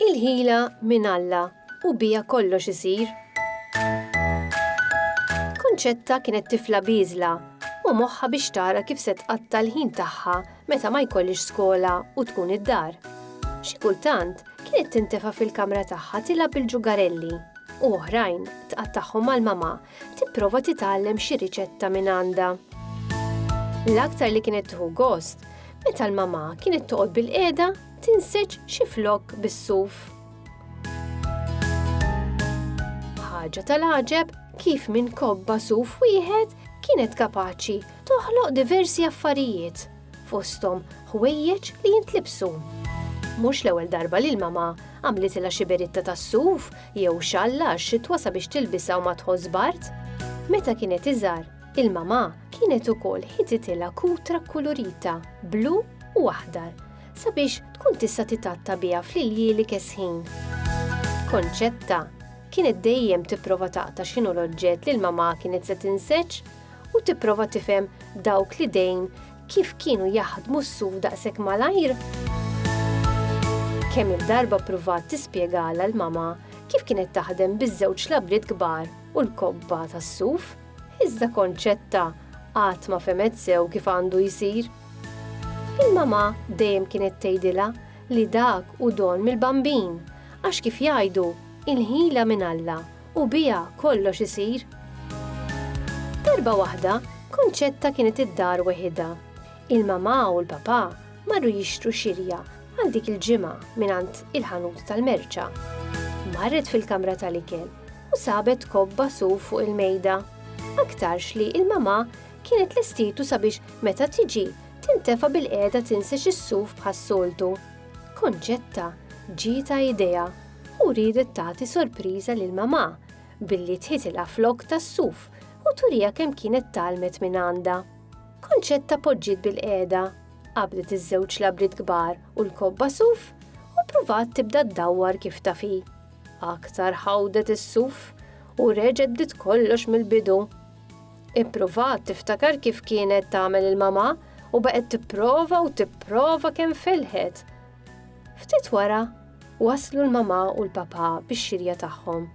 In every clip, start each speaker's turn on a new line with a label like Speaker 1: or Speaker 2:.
Speaker 1: Il-ħila minn Alla u bija kollox isir. Kunċetta kienet tifla biżla u moħħa biex tara kif se tqatta l-ħin tagħha meta ma jkollhiex skola u tkun id-dar. Xi kultant, kienet tintefa' fil-kamra tagħha tilgħab bil-ġugarelli u oħrajn tqattagħhom mal-mamà tipprova titgħallem xi riċetta minn għandha. L-aktar li kienet tieħu gost, meta l-mamà kienet toqgħod bil-qiegħda tinseġ xi flok bis-suf. Ħaġa tal-għaġeb kif minn kobba suf wieħed kienet kapaċi toħloq diversi affarijiet, fosthom ħwejjeġ li jintlibsu. Mhux l-ewwel darba li l-mama għamlitilha xi beritta tas-suf jew xalla għax-xitwa sabiex tilbisha u ma tħoss bard. Meta kienet iżgħar, il-mama kienet ukoll ħititilha kutra kkulurita blu u aħdar sabiex tkun tista' titatta biha fl-iljieli kesħin. Konċetta kienet dejjem tipprova taqta x'inhu l-oġġett li l-mama kienet se tinseġ u tipprova tifhem dawk li dejn kif kienu jaħdmu s-suf daqshekk malajr? Kemm il-darba pruvat tispjegala l-mama kif kienet taħdem biż-żewġ labriet kbar u l-kobba tas-suf, iżda konċetta qatt ma femet sew kif għandu jsir. Il-mama dejjem kienet tgħidilha li dak u don mill-bambin, għax kif jgħidu, il-ħila minn Alla u biha kollox isir. Darba waħda, Konċetta kienet id-dar weħidha. Il-mamà u l-papà marru jixtru xirja għal dik il-ġimgħa mingħand il-ħanut tal-merċa. Marret fil-kamra tal-ikel u sabet kobba su fuq il-mejda. Aktarx li il-mamà kienet l-istitu sabiex meta tiġi tintefa bil-qeda tinsex is-suf bħas-soltu. Konċetta ġita idea. u riedet tagħti sorpriża lil mamà billi tħitilha flokk tas-suf u turiha kemm kienet tgħallmet minn għandha. Konċetta poġġiet bil-qiegħda, qabdet iż-żewġ labriet kbar u l-kobba suf u pruvat tibda ddawwar kif tafi. Aktar ħawdet is-suf u reġgħet bdiet kollox mill-bidu. Ippruvat tiftakar kif kienet tagħmel il-mamà u baqgħet tipprova u tipprova kemm felħet Ftit wara, waslu l-mamà u l-papà bix-xirja tagħhom.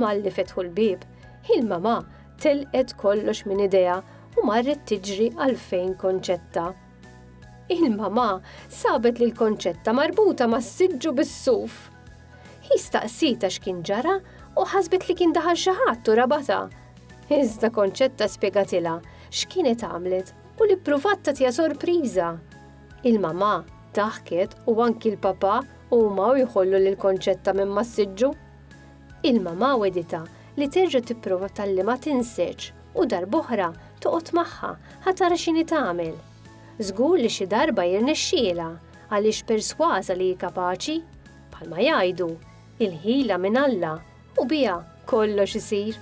Speaker 1: Malli fetħu l-bieb, hi l-mamà telqet kollox minn idejha u marret tiġri għal fejn Konċetta. Il-mamà sabet lil Konċetta marbuta mas-siġġu bis-suf. Hi staqsita x'kien ġara u ħasbet li kien daħal xi ħadd u rabata. Iżda Konċetta spjegatilha x'kienet għamlet u li ppruvat tagħtiha sorpriża. Il-mamà daħket u anki l-papà huma u jħollu lil Konċetta minn massiġġu. Il-mamà wegħditha li terġa' tipprova tgħallimha tinseġ u darb'oħra toqgħod magħha ħa tara x'inhi tagħmel. Żgur li xi darba jirnexxielha għaliex persważa li hi kapaċi. Bħalma jgħidu, il-ħila minn Alla U biha kollox isir.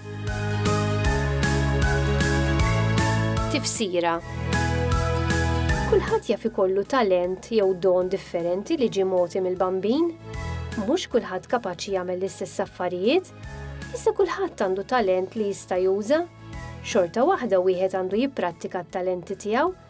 Speaker 1: Tifsira Kulħadd jaf ikollu talent jew don differenti li ġie mogħti mill-bambin. Mhux kulħadd kapaċi jagħmel l-istess affarijiet, iżda kulħadd għandu talent li jista' juża. Xorta waħda wieħed għandu jipprattika t-talenti tiegħu